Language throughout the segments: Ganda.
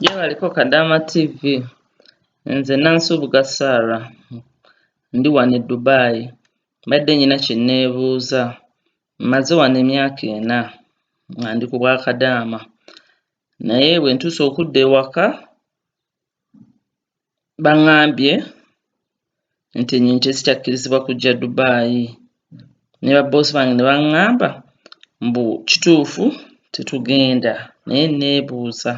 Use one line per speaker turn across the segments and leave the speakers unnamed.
Gyebaliko Kadaama TV. Nze Nansubuga Sarah. Ndi wano e Dubai. Mbadde nina kye nneebuuza. Mmaze wano emyaka ena nga ndi ku bwa Kadaama. Naye bwe ntuuse okudda ewaka, bangambye nti enyonyi tezikyakkirizibwa kujja dubaayi ne babboosi bange ne baŋŋamba mbu kituufu tetugenda naye neebuuza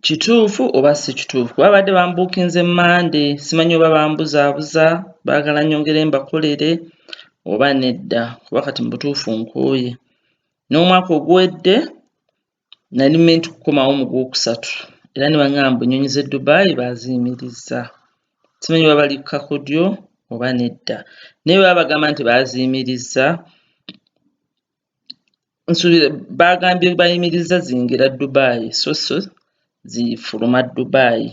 kituufu oba si kituufu kuba babadde bambuukinze mande simanyi oba bambuzaabuza baagala nyongere mbakolere oba nedda kuba kati mu butuufu nkooye n'omwaka oguwedde nali menti kukomawo mu gwokusatu era ne bangamba mbu ennyonyi z'e Dubai baaziyimirizza simanyi oba bali ku kakodyo oba nedda naye bwe babagamba nti baaziyimirizza nsuubira baagambye bayimirizza ziyingira Dubai so so zifuluma Dubai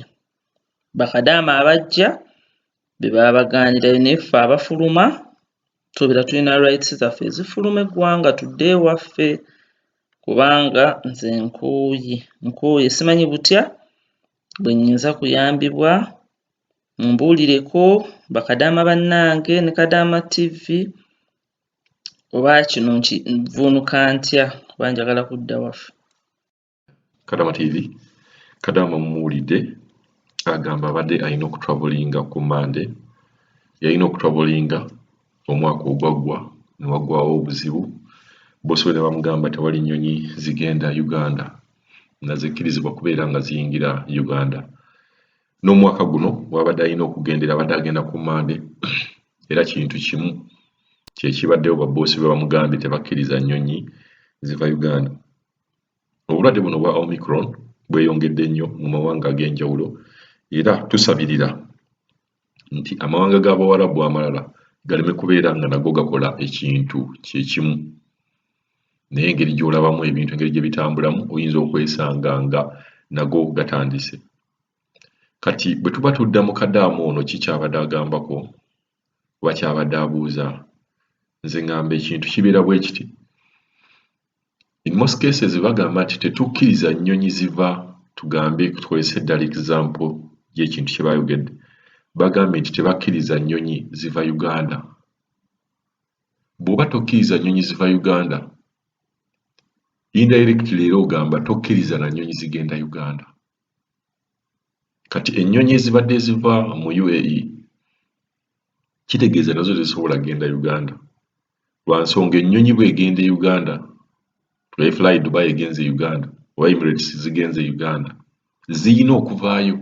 bakadaama abajja bye baba bagaanira naye ffe abafuluma tubeera tulina rights zaffe ezifuluma eggwanga tudde ewaffe kubanga nze nkooye nkooye simanyi butya bwe nnyinza kuyambibwa mumbuulireko bakadaama bannange ne kadaama tv oba kino nkivuunuka ntya kuba njagala kudda waffe
kadama tv kadama mumuwulidde agamba abadde alina okutravelinga ku mande yalina okutravelinga omwaka ogwaggwa newagwawo obuzibu bosobe ne bamugamba tewali nyonyi zigenda uganda nga zikkirizibwa kubeera nga ziyingira uganda n'omwaka guno wabadde alina okugendera abadde agenda ku mande era kintu kimu kyekibaddewo baboosi be bamugambye tebakkiriza nnyonyi ziva uganda Obulwadde buno obwa Omicron bweyongedde nnyo mu mawanga ag'enjawulo era tusabirira nti amawanga g'Abawarabu amalala galeme kubeera nga nago gakola ekintu kye kimu. Naye engeri gy'olabamu ebintu engeri gye bitambulamu oyinza okwesanga nga nago gatandise. Kati bwe tuba tudda mu kadaamu ono ki kyabadde agambako oba kyabadde abuuza nze ngamba ekintu kibeera bwe kiti in most cases bagamba nti tetukkiriza nnyonyi ziva tugambe tukozesa eddala example y'ekintu kye baayogedde bagambye nti tebakkiriza nnyonyi ziva Uganda bw'oba tokkiriza nnyonyi ziva Uganda indirect leero ogamba tokkiriza na nnyonyi zigenda Uganda kati ennyonyi ezibadde ziva mu UAE kitegeeza nazo tezisobola genda Uganda lwa nsonga ennyonyi bw'egenda e Uganda nga Fly Dubai egenze e Uganda oba Emirates zigenze e Uganda ziyina okuvaayo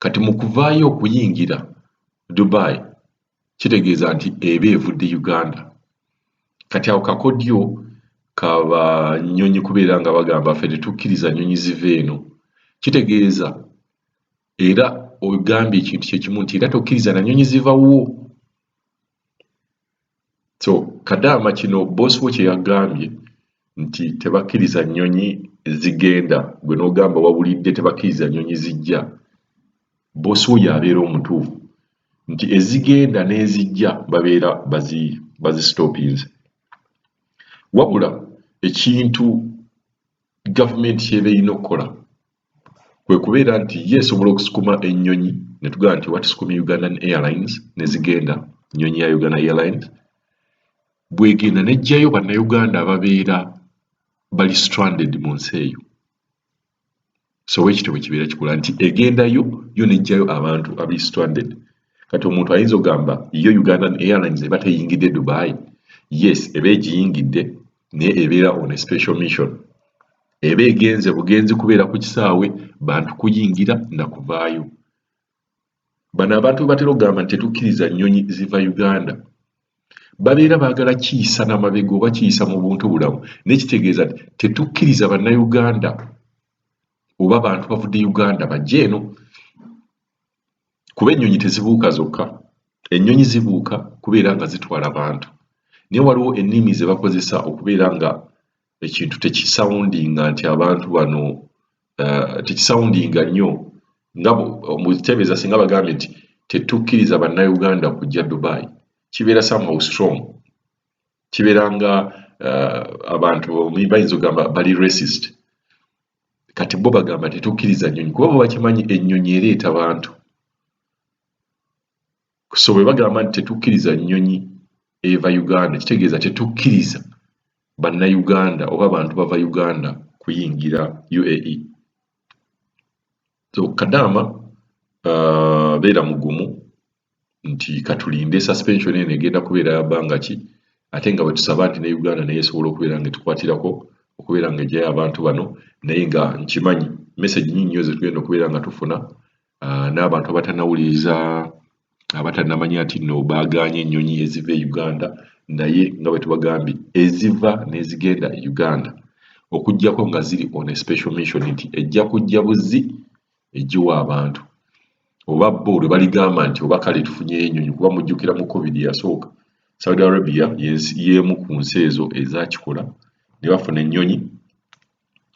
kati mu kuvaayo okuyingira Dubai kitegeeza nti eba evudde Uganda kati awo kakodyo kaba nnyonyi kubeera nga bagamba ffe tetukkiriza nnyonyi ziva eno kitegeeza era ogambye ekintu kyekimu nti era tokkiriza na nnyonyi zivawo so kadaama kino boss wo kyeyagambye nti tebakiriza nyonyi zigenda gwe nogamba wawulidde tebakiriza nyonyi zijja boss wo yabeera omutuufu nti ezigenda nezijja babeera bazi bazi stoppings wabula ekintu government kyeba erina okukola kwe kubeera nti ye esobola okusukuma ennyonyi ne tugamba nti oba tusukumye Ugandan Airlines ne zigenda nnyonyi ya Uganda Airlines bwegenda n'eggyayo bannayuganda ababeera bali stranded mu nsi eyo so wekityo bwe kibeera kikola nti egendayo yo n'eggyayo abantu abali stranded kati omuntu ayinza ogamba yo Ugandan Airlines eba teyingidde Dubai yes eba egiyingidde naye ebeera on a special mission eba egenze bugenzi kubeera ku kisaawe bantu kuyingira na kuvaayo. Bano abantu bebatera okugamba nti tetukkiriza nnyonyi ziva Uganda babeera baagala kiyisa na mabega oba kiyisa mu buntu bulamu naye kitegeeza nti tetukkiriza bannayuganda oba bantu bavudde Uganda bajje eno kuba ennyonyi tezibuuka zokka ennyonyi zibuuka kubeera nga zitwala bantu naye waliwo ennimi ze bakozesa okubeera nga ekintu tekisawundinga nti abantu bano eh, tekisawundinga nnyo nga mukitebeeza singa bagambye nti tetukkiriza bannayuganda kujja dubai kibeera somehow strong kibeera nga eh, abantu bayinza ogamba bali racist kati bo bagamba tetukkiriza nnyonyi kuba bo bakimanyi ennyonyi ereeta bantu so bwe bagamba nti tetukkiriza nnyonyi eva uganda kitegeeza tetukkiriza bannayuganda oba abantu bava uganda kuyingira uae so kadaama uh, beera mugumu nti katulinde suspension eno egenda kubeera yabanga ki ate nga bwetusaba nti ne uganda naye esobola okubeera nga etukwatirako okubeera nga ejayo abantu bano naye nga nkimanyi message nyinyi nyo zetugenda okubeera nga tufuna uh, n'abantu abatanawuliriza abatanamanya nti no baagaanye ennyonyi eziva e uganda naye nga bwe tubagambye eziva n'ezigenda e uganda okugyako nga ziri on a special mission nti ejja kujja buzzi egiwa abantu oba bo lwe baligamba nti oba kale tufunyeyo ennyonyi kuba mujjukira mu covid yasooka saudi arabia y'emu ku nsi ezo ezakikola ne bafuna ennyonyi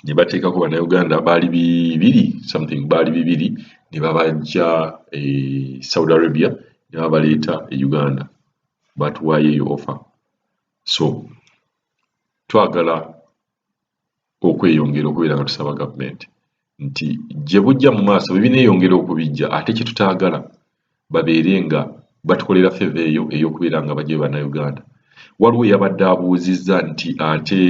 ne bateekako bannayuganda baali bibiri something baali bibiri ne babajja e saudi arabia ne babaleeta e uganda batuwaayo eyo offa so twagala okweyongera okubeera nga tusaba gavumenti nti gye bujja mu maaso bwe bineeyongera okubijja ate kye tutaagala babeere nga batukolera favour eyo ey'okubeera nga bajjayo Bannayuganda. Waliwo eyabadde abuuzizza nti ate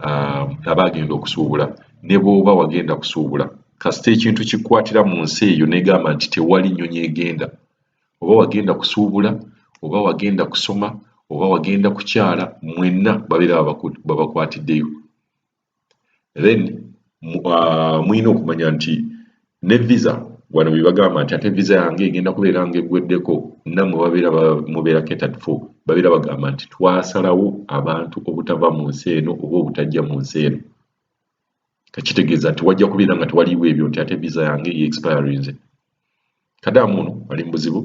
um, aba agenda okusuubula ne bw'oba wagenda kusuubula kasita ekintu kikwatira mu nsi eyo negamba nti tewali nnyonyi egenda oba wagenda kusuubula oba wagenda kusoma oba wagenda kukyala mwenna babeera babakwatiddeyo then uh, mulina okumanya nti ne visa wano bebagamba nti ate visa yange egenda kubeera nga egweddeko namwe babeera mubeera catered for babeera bagamba nti twasalawo abantu obutava mu nsi eno oba obutajja mu nsi eno kakitegeeza nti wajja kubeera nga tewaliwo ebyo nti ate visa yange ye expirinze kadaamu ono ali mu buzibu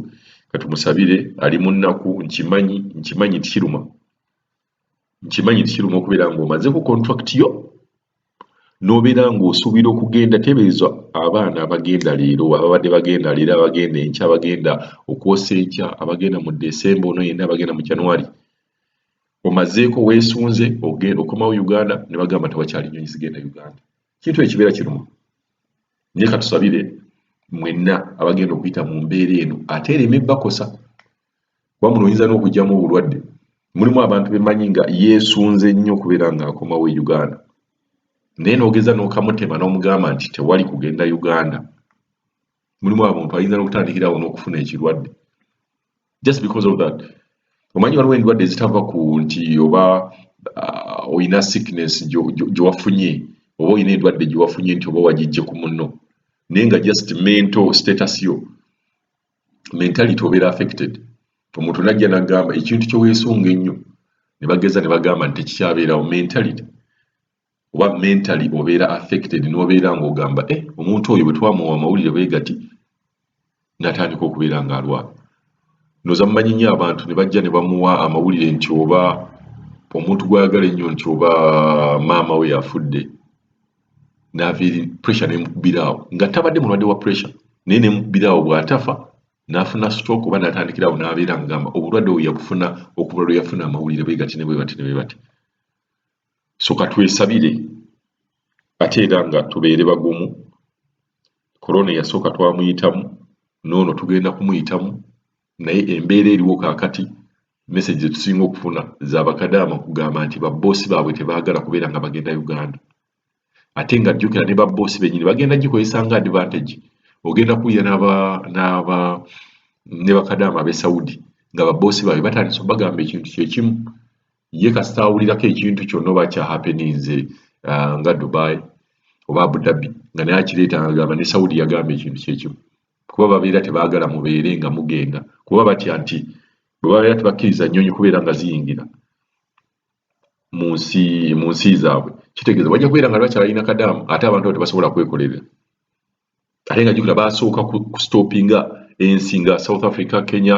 katumusabire ali mu nnaku nkimanyi nkimanyi tikiruma nkimanyi nti kiruma okubeera ng'omazeeko contract yo n'obeera ng'osuubira okugenda tebeeza abaana abagenda leero ababadde bagenda leero abagenda enkya abagenda okwosa enkya abagenda mu desemba ono yenna abagenda mu january omazeeko weesunze ogenda okomawo uganda ne bagamba nti wakyali nyonyi zigenda uganda kintu ekibeera kiruma naye katusabire mwenna abagenda okuyita mu mbeera eno ate ereme bakosa kuba muno oyinza n'okugyamu obulwadde mulimu abantu bemanyi nga yeesunze nnyo okubeera ng'akomawo e uganda naye n'ogeza n'okamutema n'omugamba nti tewali kugenda uganda mulimu abantu ayinza n'okutandikirawo n'okufuna ekirwadde just because of that omanyi waliwo endwadde ezitava ku nti oba uh, olina sickness gyewafunye oba olina endwadde gyewafunye nti oba wagijje ku munno naye nga just mental status yo mentality obeera affected omuntu najja nagamba ekintu kyewesunga ennyo nebageza nebagamba nti tekikyabeerawo mentality oba mentally obeera affected nobeera ngaogamba e eh, omuntu oyo bwetwamuwa amawulire bwegati natandika okubeera nga alwa noza mumanyi nyo abantu nebajja nebamuwa amawulire nti oba omuntu gwayagala ennyo nti oba maama we yafudde n'aviiri pressure n'emukubiraawo nga tabadde mulwadde wa pressure naye n'emukubiraawo bw'atafa n'afuna stroke oba n'atandikiraawo n'abeera ngamba obulwadde obwo yabufuna okuva lwe yafuna amawulire bwe gati ne bwe bati ne bwe bati so ka twesabire ate era nga tubeere bagumu korona eyasooka twamuyitamu n'ono tugenda kumuyitamu naye embeera eriwo kaakati message zetusinga okufuna zabakadaama okugamba nti babboosi baabwe tebaagala kubeera nga bagenda uganda ate nga jjukira ne babboosi benyini bagenda gikozesa nga advantage ogenda kuwulira ne bakadaama abe saudi nga babboosi baabwe batandisa obagamba ekintu kyekimu ye kasita awulirako ekintu kyonna oba kyahapeninze uh, nga dubai oba abudabi nga naye akireeta agamba ne saudi yagamba ekintu kyekimu kuba babeera tebaagala mubeere nga mugenda kuba batya nti bwe babeera tebakkiriza nnyonyi kubeera nga ziyingira mu nsi mu nsi zaabwe kitegeeza bajja kubeera nga tebakyalina kadaamu ate abantu abo tebasobola kwekolerera ate nga jukira basooka kustopinga ensi nga south africa kenya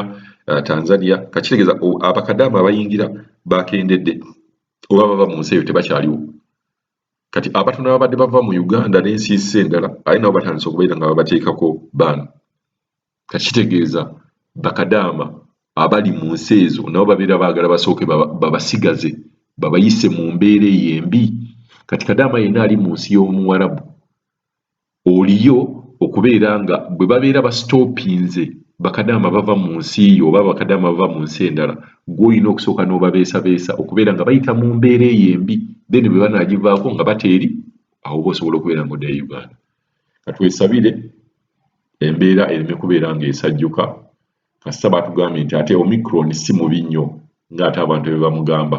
uh, tanzania kakitegeeza abakadaamu abayingira bakendedde oba baba mu nsi eyo tebakyaliwo kati abatono babadde bava mu uganda nensiisi endala aye nabo batandise okubeera nga babateekako baano kati kitegeeza bakadaama abali mu nsi ezo nabo babeera baagala basooke babasigaze babayise mu mbeera eyo embi kati kadaama yenna ali mu nsi y'omuwarabu Oliyo okubeera nga bwe babeera basitoopinze bakadaama bava mu nsi yo oba abakadaama bava mu nsi endala, ggwe olina okusooka n'obabeesabeesa okubeera nga bayita mu mbeera eyo embi then bwe banaagivaako nga bateeri awo oba osobola okubeera nga oddayo e Uganda. Ka twesabire embeera ereme kubeera ng'esajjuka kasita baatugambye nti ate Omicron si mubi nnyo ng'ate abantu bye bamugamba.